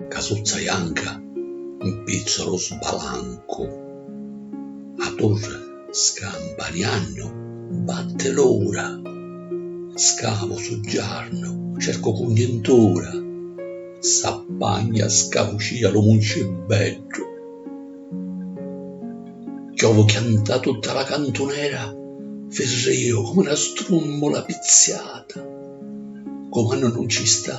Casuzza janca 'mpizza lu sbalancu. A turri scampaniannu batti l'ura. Scavu suggiarnu cercu cugnintura. S'appagna scavucia lu muncibeddu. Chiovu chianta tutta la cantunera firriu comu 'na strummula pizziata. Cumannu nun ci sta.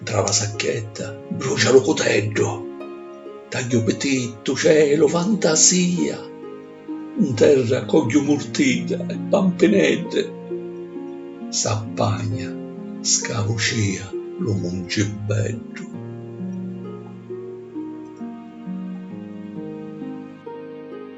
Ntra la sacchetta brucia lu cuteddu, tagghiu pitittu, celu, fantasia, 'n terra cogghiu murtidda e pampineddi, s'appagna, scavu cia lu muncibeddu.